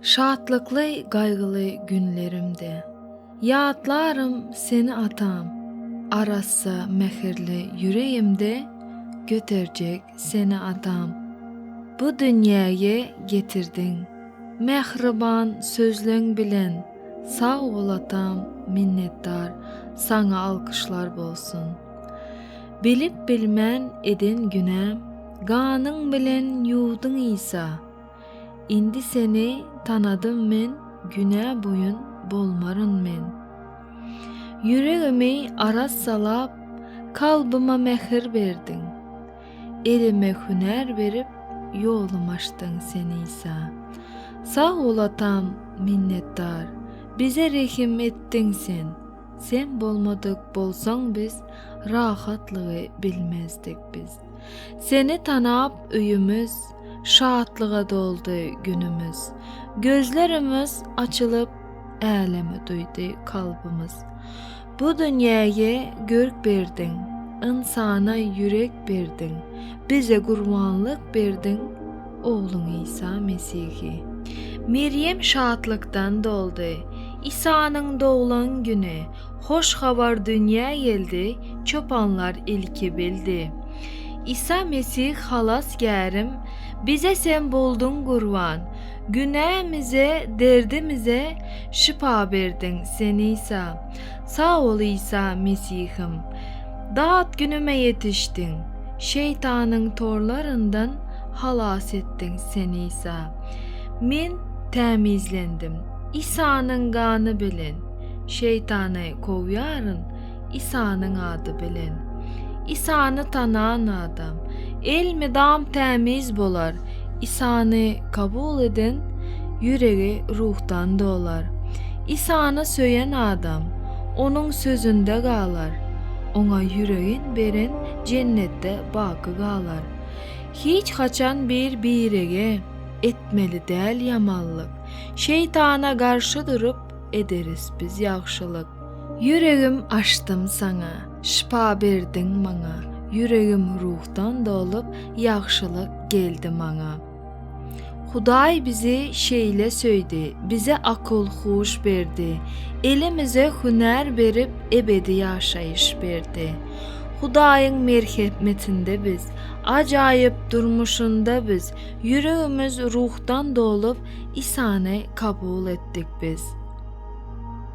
Şatlykly gaýgyly günlerimde Ýatlarym seni atam Arassa mähirli ýüregimde Göterjek seni atam Bu dünýäge getirdiň Mähriban sözleň bilen Sag bol atam minnetdar Saňa alkyşlar bolsun. Bilip bilmän eden günäm Ganyň bilen ýuwdyň Isa Indi seni tanadym men Günä boýun bolmaryn men Ýüregimi arassalap Kalbyma mähir berdiň Elime hünär berip Ýolum açdyň sen Isa Sag bol atam minnetdar Bize rehim etdiň sen. Sen bolmadyk bolsaň biz rahatlygy bilmezdik biz Seni tanap öýümiz şatlyga doldy günümiz Gözlerimiz açylyp älemi duýdy kalbymyz Bu dünýäýe görk berdiň ynsana ýürek berdiň bize gurbanlyk berdiň Ogluň Isa Mesihi. Merýem şatlykdan doldy. Isanyň doglan güni, hoş habar dünýä geldi, çopanlar ilki bildi. Isa Mesih Halasgärim, bize Sen bolduň gurban, günämize, derdimize şypa berdiň Sen Isa. Sag bol Isa Mesihim. Dat günüme ýetişdiň. Şeýtanyň torlaryndan halas etdiň Sen Isa. Men tämizlendim Isanyň gany bilen. Şeýtany kowýaryn Isanyň ady bilen. Isany tanan adam elmydam tämiz bolar. Isany kabul eden ýüregi ruhdan dolar. Isany söýen adam Onuň sözünde galar, Oňa ýüregin beren jennetde baky galar. Hiç haçan bir-birege etmeli däl ýamanlyk, Şeýtana garşy durup, ederis biz ýagşylyk. Ýüregim açdym Saňa. Şypa berdiň maňa, ýüregim ruhdan dolup, ýagşylyk geldi maňa. Hudaý bizi şeýle söýdi, bize akyl-huş berdi, elimize hünär berip, ebedi ýaşaýyş berdi. Hudaýyň merhepmetinde biz, ajaýyp durmuşynda biz, ýüregimiz ruhdan dolup, Isany kabul etdik biz.